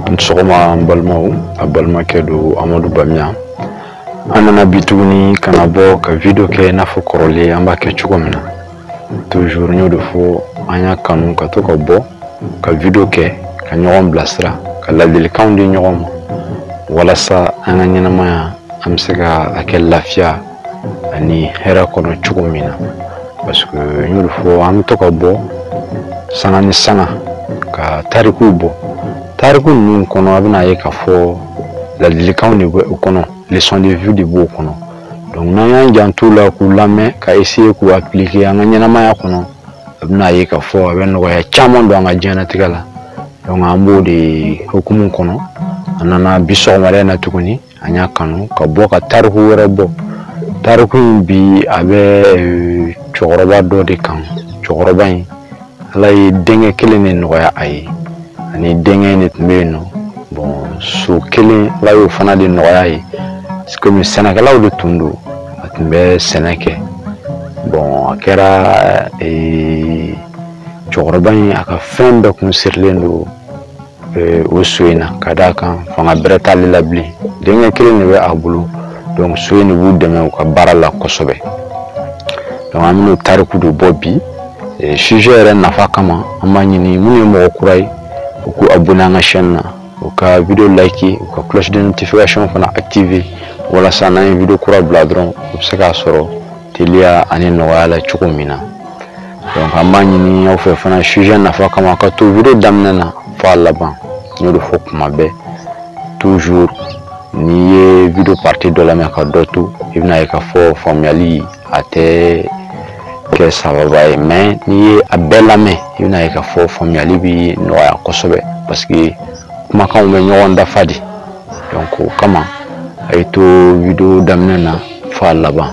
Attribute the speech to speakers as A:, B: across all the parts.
A: A ni sɔgɔma an balimaw a balimakɛ don amadu bamiya an nana bi tuguni ka na bɔ ka video kɛ n'a fɔ kɔrɔlen an b'a kɛ cogo min na toujours n y'o de fɔ an y'a kanu ka to ka bɔ ka video kɛ ka ɲɔgɔn bilasira ka ladilikanw di ɲɔgɔn ma walasa an ka ɲɛnamaya an bɛ se ka a kɛ lafiya ani hɛrɛ kɔnɔ cogo min na parce que n y'o de fɔ an bɛ to ka bɔ sanga ni sanga ka tarikuw bɔ tariku ninnu kɔnɔ a bɛna ye k'a fɔ ladilikanw de bɛ o kɔnɔ leçon de vie de b'o kɔnɔ donc n'an y'an janto u la k'u lamɛn ka essayer k'u appliquer an ka ɲɛnamaya kɔnɔ a bɛna ye k'a fɔ a bɛ nɔgɔya caman don an ka diɲɛnatigɛ la donc an b'o de hukumu kɔnɔ an nana bi sɔgɔmada in na tuguni an y'a kanu ka bɔ ka tariku wɛrɛ bɔ tariku in bi a bɛ euh, cɛkɔrɔba dɔ de kan cɛkɔrɔba in ala ye denkɛ kelen de nɔgɔya a ye a ni denkɛ in de tun bɛ yen nɔ bon so kelen ala y'o fana de nɔgɔya a ye komi sɛnɛkɛlaw de tun don a tun bɛ sɛnɛ kɛ bon a kɛra ee, cɛkɔrɔba in a ka fɛn bɛɛ kun sirilen don o so in na ka d'a kan fanga bɛrɛ t'ale la bilen denkɛ kelen de bɛ a bolo donc so in de b'u dɛmɛ u ka baara la kosɛbɛ donc an bɛn'o tariku de bɔ bi sujet yɛrɛ nafa kama an b'a ɲini minnu ye mɔgɔ kura ye u k'u abonné an ka chaîne na u ka video like u ka cloche de notification fana activer walasa n'an ye video kura bila dɔrɔn u bɛ se k'a sɔrɔ teliya ani nɔgɔya la cogo min na donc an b'a ɲini aw fɛ fana sujet nafa kama ka to video daminɛ na fo a laban n y'o de fɔ kuma bɛɛ toujours n'i ye video partie dɔ lamɛn ka dɔ to i bɛna ye k'a fɔ faamuyali a tɛ kɛ sababa ye mais n'i ye a bɛɛ lamɛn i bɛna ye k'a fɔ faamuyali bɛ nɔgɔya kosɛbɛ parce que kumakanw bɛ ɲɔgɔn dafa de donc o kama a ye to video daminɛ na fo a laban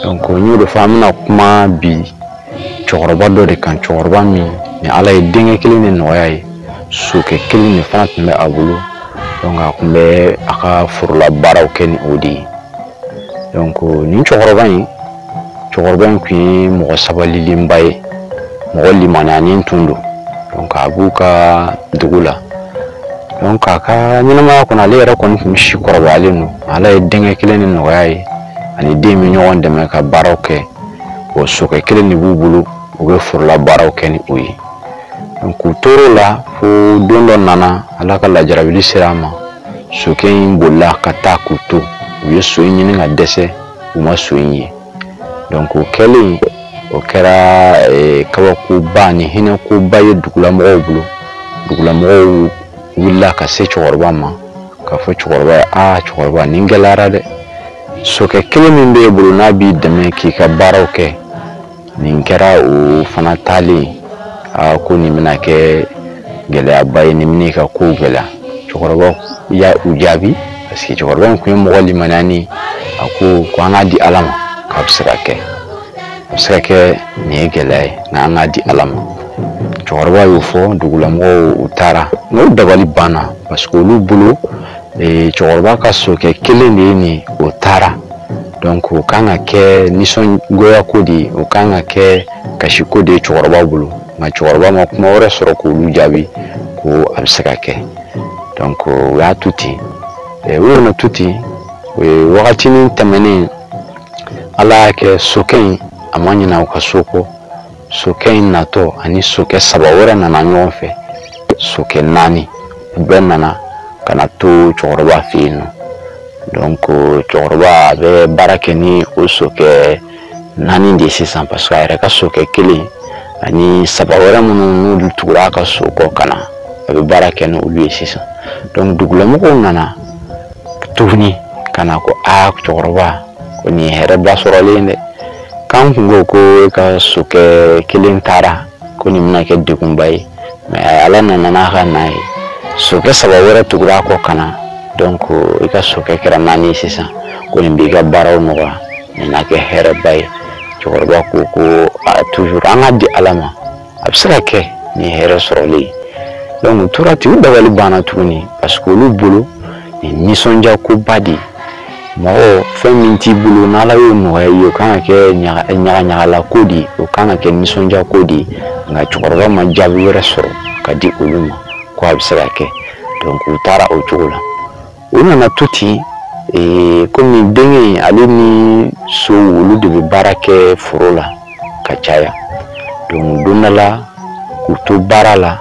A: donc n y'o de fɔ an bɛna kuma bi cɛkɔrɔba dɔ de kan cɛkɔrɔba min ni ala ye denkɛ kelen de nɔgɔya a ye sokɛ kelen de fana tun bɛ a bolo donc a tun bɛ a ka forola baaraw kɛ ni o de ye donc nin cɛkɔrɔba in cɛkɔrɔba in tun ye mɔgɔ sabalilenba ye mɔgɔ limaniyanen tun don donc a b'u ka dugu la donc a ka ɲɛnamaya kɔnɔ ale yɛrɛ kɔni tun bɛ si kɔrɔbayalen don ala ye denkɛ kelen in nɔgɔya a ye a ni den bɛ ɲɔgɔn dɛmɛ ka baaraw kɛ o sokɛ kelen de b'u bolo u bɛ forola baaraw kɛ ni o ye donc u tor'o la fo don dɔ nana ala ka lajarabili sera a ma sokɛ in bolila ka taa k'u to u ye so in ɲini ka dɛsɛ u ma so in ye donc o kɛlen o kɛra eh, kabakoba ni hinɛkoba ye dugulamɔgɔw bolo dugulamɔgɔw wulila ka se cɛkɔrɔba ma k'a fɔ cɛkɔrɔba ye aa cɛkɔrɔba nin gɛlɛyara dɛ sokɛ kelen min b'e bolo n'a b'i dɛmɛ k'i ka baaraw kɛ nin kɛra o fana taalen aa ko nin bɛna kɛ gɛlɛyaba ye nin bɛn'i ka kow gɛlɛya cɛkɔrɔba y'u jaabi parce que cɛkɔrɔba in tun ye mɔgɔ limaniyanen a ko ko an k'a di ala ma k'a bɛ se ka kɛ a bɛ se ka kɛ nin ye gɛlɛya ye nka an k'a di ala ma cɛkɔrɔba y'o fɔ dugulamɔgɔw u taara u dabali banna parce que olu bolo ee cɛkɔrɔba ka sokɛ kelen de ye ni o taara donc o kan ka kɛ nisɔngoya ko de ye o kan ka kɛ kasiko de ye cɛkɔrɔba bolo nka cɛkɔrɔba ma kuma wɛrɛ sɔrɔ k'olu jaabi ko a bɛ se ka kɛ donc u y'a to ten ee, u nana to ten o ye wagatinin tɛmɛnen ala y'a kɛ sokɛ in a ma ɲinɛ u ka so kɔ sokɛ in natɔ a ni sokɛ saba wɛrɛ nana ɲɔgɔn fɛ sokɛ naani u bɛɛ nana ka na to cɛkɔrɔba fɛ yen nɔ donc cɛkɔrɔba a bɛ baara kɛ ni o sokɛ naani de ye sisan parce que a yɛrɛ ka sokɛ kelen ani saba wɛrɛ minnu n'olu tugura a ka so kɔ ka na a bɛ baara kɛ n'olu ye sisan donc dugulamɔgɔw nana tuguni ka na ko aa cɛkɔrɔba ko nin ye hɛrɛba sɔrɔlen dɛ k'an kun ko ko e ka sokɛ kelen taara ko nin bɛna kɛ degunba ye i ma ala nana n'a ka na ye sokɛ saba wɛrɛ tugura a kɔ ka na donc i ka sokɛ kɛra naani ye sisan ko nin b'i ka baaraw nɔgɔya nin na kɛ hɛrɛba ye cɛkɔrɔba ko ko toujours an k'a di ala ma a bɛ se ka kɛ nin hɛrɛ sɔrɔlen ye donc u tora ten u dabali banna tuguni parce que olu bolo nin nisɔndiya koba de ye mɔgɔ fɛn min t'i bolo n'ala y'o nɔgɔya i ye o kan ka kɛ ɲagaɲagala ko de ye o kan ka kɛ nisɔndiya ko de ye nka cɛkɔrɔba ma jaabi wɛrɛ sɔrɔ ka di olu ma ko a bɛ se ka kɛ donc u taara o cogo la u nana to ten ee, komi denkɛ in ale ni so olu de bɛ baara kɛ foro la ka caya donc don dɔ la k'u to baara la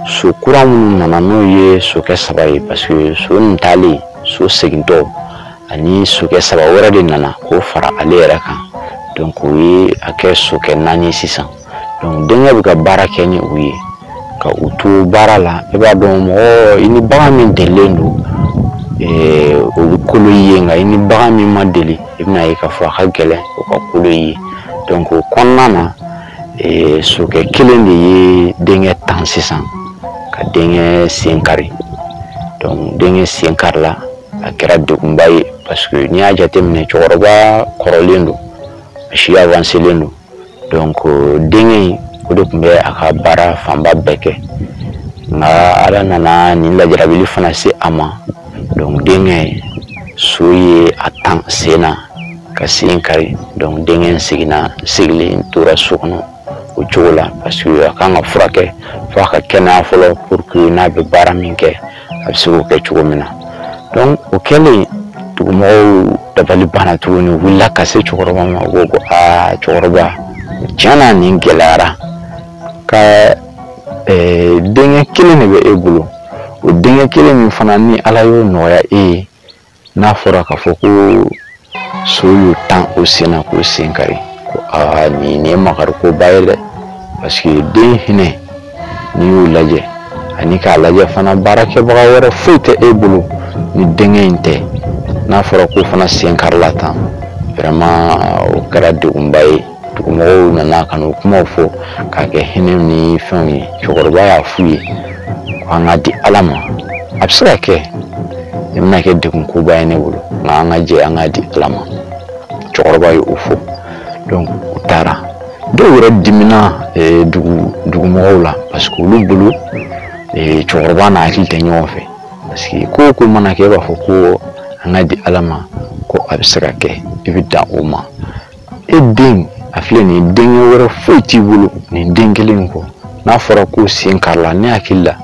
A: so kura minnu nana n'o ye sokɛ saba ye parce que so nin taalen so segintɔ ani sokɛ saba wɛrɛ de nana k'o fara ale yɛrɛ kan donc o ye a kɛ sokɛ naani sisan donc denkɛ bɛ ka baara kɛ ni u ye ka u to baara la i b'a dɔn mɔgɔ i ni bagan min delilen don eh, o bɛ kolo i ye nka i ni bagan min ma deli i bɛn'a ye k'a fɔ a ka gɛlɛn o ka kolo i ye donc o kɔnɔna na eh, sokɛ kelen de ye denkɛ tan sisan ka denkɛ sen kari donc denkɛ sen karila a kɛra degunba ye parce que n'i y'a jateminɛ cɛkɔrɔba kɔrɔlen don a si avancelen don donc denkɛ in o de tun bɛ a ka baara fanba bɛɛ kɛ nka ala nana nin lajarabi fana se a ma donc denkɛ in so ye a tan sen na ka sen kari donc denkɛ in seginna sigilen tora so kɔnɔ o cogo la parce que a kan ka furakɛ fo a ka kɛnɛya fɔlɔ pour que n'a bɛ baara min kɛ a bɛ se k'o kɛ cogo min na donc o kɛlen dugumɔgɔw dabali banna tuguni u wulila ka se cɛkɔrɔba ma u ko ko aa cɛkɔrɔba tiɲɛ na nin gɛlɛyara ka eh, denkɛ kelen de bɛ e bolo o denkɛ kelen min fana ni ala y'o nɔgɔya e ye n'a fɔra k'a fɔ ko so y'o tan o sen na k'o sen kari ko aa nin nin ye makarikoba ye dɛ parce que den hinɛ n'i y'o lajɛ ani k'a lajɛ fana baarakɛbaga wɛrɛ foyi tɛ e bolo ni denkɛ in tɛ n'a fɔra k'o fana sen karila tan vraiment o kɛra degunba ye dugumɔgɔw nana ka n'o kumaw fɔ k'a kɛ hinɛ ni fɛnw ye cɛkɔrɔba y'a f'u ye ko an k'a di ala ma a bɛ se ka kɛ nin bɛna kɛ degunkoba ye ne bolo nka an ka jɛ an k'a di ala ma cɛkɔrɔba ye o fɔ u taara dɔw yɛrɛ dimina eh, dugu dugumɔgɔw la parce que olu bolo eh, cɛkɔrɔba n'a hakili tɛ ɲɔgɔn fɛ parce que ko o ko mana kɛ e b'a fɔ ko an k'a di ala ma ko a bɛ se ka kɛ i bɛ dan o ma e den a filɛ nin ye denkɛ wɛrɛ foyi t'i bolo nin den kelen kɔ n'a fɔra k'o sen karila ne hakili la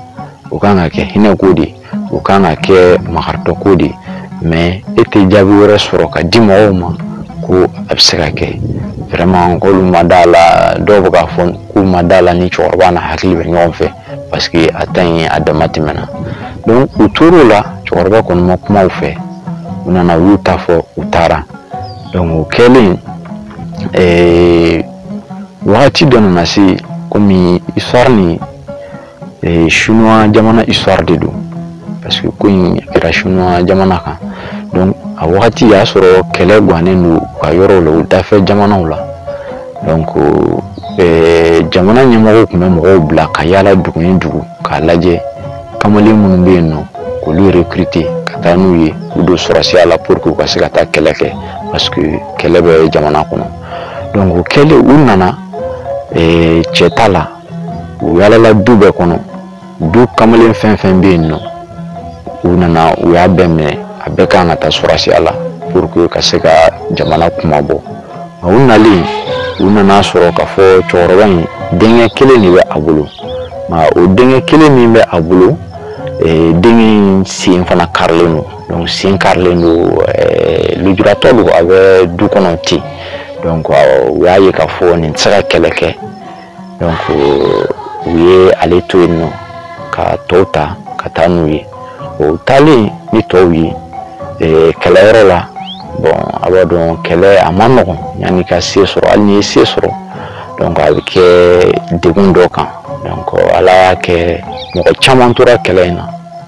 A: o kan ka kɛ hinɛko de ye o kan ka kɛ makaritɔko de ye mais e tɛ jaabi wɛrɛ sɔrɔ ka di mɔgɔw ma ko a bɛ se ka kɛ vraiment k'olu ma d'a la dɔw bɛ k'a fɔ k'u ma d'a la ni cɛkɔrɔba n'a hakili bɛ ɲɔgɔn fɛ parce que a ta in a damatɛmɛna donc u tor'o la cɛkɔrɔba kɔni ma kuma u fɛ u nana u y'u ta fɔ u taara o kɛlen wagati dɔ nana se komi histoire nin chinois jamana histoire de don parce que ko in kɛra chinois jamana kan donc a wagati y'a sɔrɔ kɛlɛ gannen don u ka yɔrɔw la u dafɛ jamanaw la donc jamana ɲɛmɔgɔw tun bɛ mɔgɔw bila ka yaala dugu ni dugu k'a lajɛ kamalen minnu bɛ yen nɔ k'olu recruter ka taa n'u ye u don sɔrɔsiya la pour que u ka se ka taa kɛlɛ kɛ parce que kɛlɛ bɛ jamana kɔnɔ donc o kɛlen u nana eh, cɛ ta la u yaalala du bɛɛ kɔnɔ du kamalen fɛn fɛn bɛ yen nɔ u nana u y'a bɛɛ minɛ a bɛɛ ka kan ka taa sɔrɔsiya la pour que ka se ka jamana kunmabɔ A u nalen u nan'a sɔrɔ k'a fɔ cɛkɔrɔba in denkɛ kelen de bɛ a bolo o denkɛ kelen min bɛ a bolo e, denkɛ sen fana karilen don donc sen karilen don e, lujuratɔ don a bɛ du kɔnɔ ten donc u y'a ye k'a fɔ nin tɛ se ka kɛlɛ kɛ donc u ye ale to yen nɔ ka tɔw ta ka taa n'u ye o taalen ni tɔw ye eh, kɛlɛyɔrɔ la bon a b'a dɔn kɛlɛ a man nɔgɔn yanni i ka se sɔrɔ hali n'i ye se sɔrɔ donc a bɛ kɛ degun dɔ kan donc ala y'a kɛ mɔgɔ caman tora kɛlɛ in na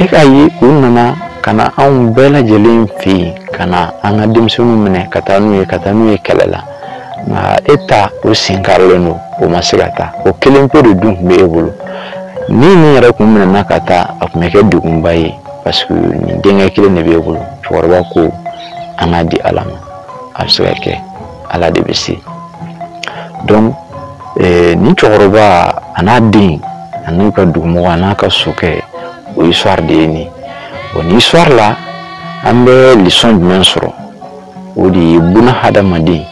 A: e k'a ye u nana ka na anw bɛɛ lajɛlen fɛ yen ka na an ka denmisɛnninw minɛ ka taa n'u ye ka taa n'u ye kɛlɛ la nka e ta o sen karilen don o ma se ka taa o kelen pe de dun tun bɛ e bolo ni nin yɛrɛ kun minɛna ka taa a tun bɛ kɛ degunba ye parce que nin denkɛ kelen de b'e bolo cɛkɔrɔba ko an k'a di ala ma a bɛ se ka kɛ ala de bɛ se dɔn nin cɛkɔrɔba a n'a den a n'a ka dugumɔgɔ a n'a ka sokɛ o histoire de ye nin o nin histoire la an bɛ leçon jumɛn sɔrɔ o de ye buna hadamaden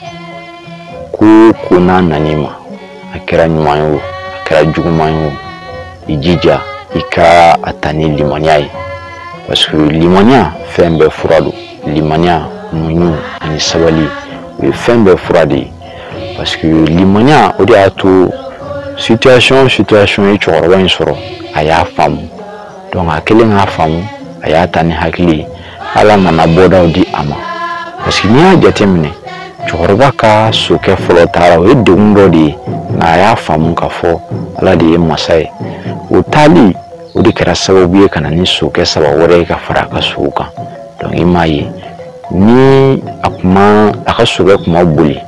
A: ko ko n'a nan'i ma a kɛra ɲuman ye o a kɛra juguman ye o i jija i ka a ta ni limaniya ye parce que limaniya fɛn bɛɛ fura don limaniya muɲu ani sabali o ye fɛn bɛɛ fura de ye parce que limaniya o de y'a to situation o situation ye cɛkɔrɔba in sɔrɔ a y'a faamu donc a kɛlen k'a faamu a y'a ta ni hakili ye ala nana bɔdaw di a ma parce que n'i y'a jateminɛ cɛkɔrɔba ka sokɛ fɔlɔ taara o ye degun dɔ de ye nka a y'a faamu k'a fɔ ala de ye masa ye o taali o de kɛra sababu ye ka na ni sokɛ saba wɛrɛ ye ka fara a ka sow kan donc i m'a ye ni a kun ma a ka sokɛ kun ma boli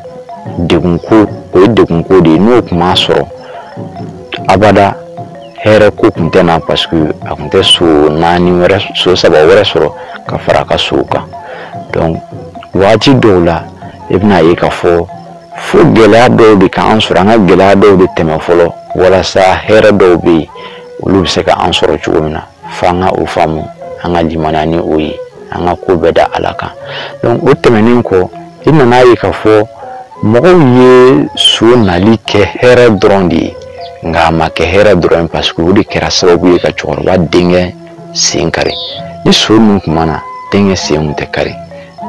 A: degunko o ye degunko de ye n'o kun m'a sɔrɔ abada hɛrɛ ko tun tɛ na parce que a tun tɛ so naani wɛrɛ so saba wɛrɛ sɔrɔ ka fara a ka sow kan donc waati dɔw la i e bɛna ye k'a fɔ fo gɛlɛya dɔw de ka an sɔrɔ an ka gɛlɛya dɔw de tɛmɛ fɔlɔ walasa hɛrɛ dɔw bɛ yen olu bɛ se ka an sɔrɔ cogo min na fo an ka o faamu an ka limaniya ni o ye an ka ko bɛɛ da ala kan donc o tɛmɛnen kɔ i nana ye k'a fɔ mɔgɔw ye so nali kɛ hɛrɛ dɔrɔn de ye nka a ma kɛ hɛrɛ dɔrɔn ye parce que o de kɛra sababu ye ka cɛkɔrɔba denkɛ sen kari ni so ninnu kun ma na denkɛ sen kun tɛ kari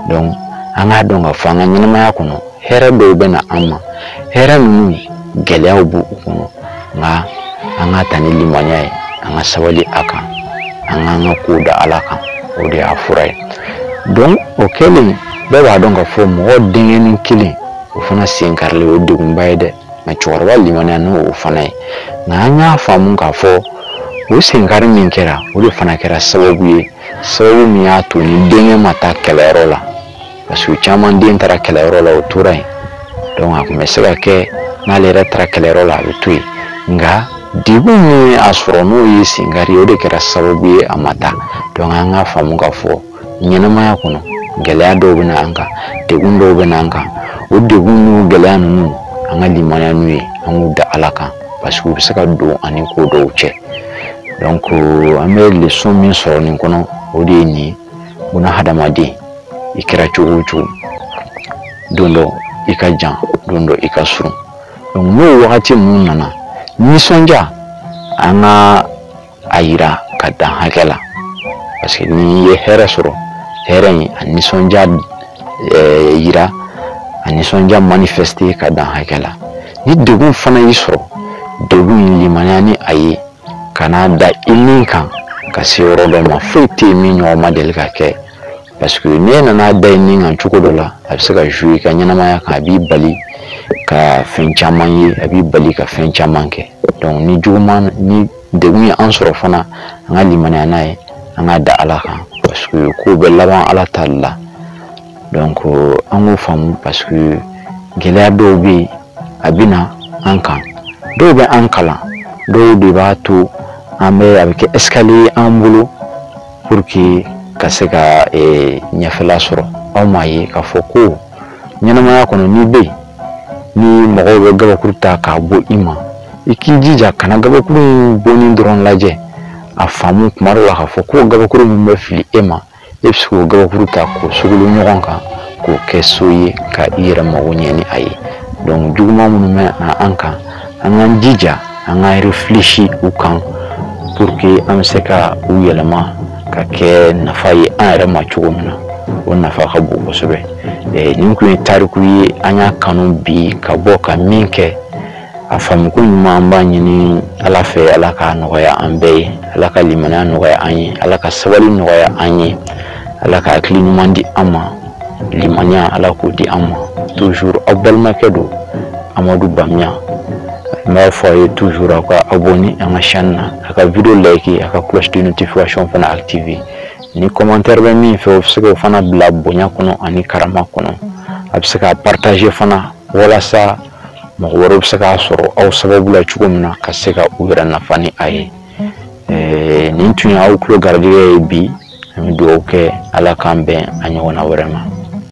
A: donc an k'a dɔn k'a fɔ an ka ɲɛnamaya kɔnɔ hɛrɛ dɔw bɛ na an ma hɛrɛ ninnu gɛlɛyaw b'u kɔnɔ nka an k'a ta ni limaniya ye an ka sabali a kan an k'an ka kow da ala kan o de y'a fura ye donc o kɛlen bɛɛ b'a dɔn k'a fɔ mɔgɔ denkɛnin kelen o fana sen karilen o ye degunba ye dɛ nka cɛkɔrɔba limaniya n'o fana ye nka an y'a faamu k'a fɔ o senkari min kɛra o de fana kɛra sababu ye sababu min y'a to ni denkɛ ma taa kɛlɛyɔrɔ la parce que caman den taara kɛlɛyɔrɔ la o tora yen donc a tun bɛ se ka kɛ n'ale yɛrɛ taara kɛlɛyɔrɔ la a bɛ to yen nka degun min y'a sɔrɔ n'o ye senkari ye o de kɛra sababu ye a ma taa donc an k'a faamu k'a fɔ ɲɛnamaya kɔnɔ gɛlɛya dɔw bɛ na an kan degun dɔw bɛ na an kan o degun n'o gɛlɛya ninnu an ka limaniya n'u ye an k'u da ala kan parce que u bɛ se ka don an ni ko dɔw cɛ donc an bɛ leçon min sɔrɔ nin kɔnɔ o de ye nin ye buna hadamaden i kɛra cogo o cogo don dɔ i ka jan don dɔ i ka surun donc n'o wagati ninnu nana nisɔndiya an ka a yira ka dan hakɛ la parce que n'i ye hɛrɛ sɔrɔ hɛrɛ in a nisɔndiya ɛɛ yira a nisɔndiya manifester ka dan hakɛ la ni degun fana y'i sɔrɔ degun in limaniya ni a ye kan'a da i ni kan ka se yɔrɔ dɔ ma foyi tɛ yen min ɲɔgɔn ma deli ka kɛ parce que n'e nan'a da i ni kan cogo dɔ la a bɛ se ka jouer i ka ɲɛnamaya kan a b'i bali ka fɛn caman ye a b'i bali ka fɛn caman kɛ donc ni juguman ni degun ye an sɔrɔ fana an ka limaniya n'a ye an k'a da ala kan parce que kow bɛ laban ala ta de la donc an k'o faamu parce que gɛlɛya dɔw bɛ yen a bɛ na an kan dɔw bɛ an kalan dɔw de b'a to an bɛ a bɛ kɛ escalier an bolo pour que ka se ka ɲɛfɛla sɔrɔ aw m'a ye k'a fɔ ko ɲɛnɛmaya kɔnɔ n'i bɛ yen ni mɔgɔw bɛ gabakuru ta k'a bon i ma i k'i jija kana gabakuru in bonni dɔrɔn lajɛ a faamu kuma dɔ la k'a fɔ ko gabakuru min bɛ fili e ma e bɛ se k'o gabakuru ta k'o sogolon ɲɔgɔn kan k'o kɛ so ye ka i yɛrɛ mago ɲɛ ni a ye donc ko juguman minnu bɛ na an kan an k'an jija an k'an réfléchir u kan pour que an bɛ se ka u yɛlɛma ka kɛ nafa ye an yɛrɛ ma cogo min na o nafa ka bon kosɛbɛ nin tun ye tariku ye an y'a kanu bi ka bɔ ka min kɛ a faamuko ɲuman an b'a ɲini ala fɛ ala ka nɔgɔya an bɛɛ ye ala ka limaniya nɔgɔya an ye ala ka sabali nɔgɔya an ye ala ka hakili ɲuman di an ma limaniya ala k'o di an ma toujours aw balimakɛ don amadu bamiya n b'a fɔ a ye toujours aw ka abonner an ka chaîne na a ka vidéo like a ka cloche de notification fana activer ni commentaire bɛ min fɛ o bɛ se k'o fana bila bonya kɔnɔ ani karama kɔnɔ a bɛ se k'a partager fana walasa mɔgɔ wɛrɛw bɛ se k'a sɔrɔ aw sababu la cogo min na ka se ka u yɛrɛ nafa ni a ye nin tun ye aw tulo garijɛgɛ ye bi an bɛ dugawu kɛ ala k'an bɛn a ɲɔgɔnna wɛrɛ ma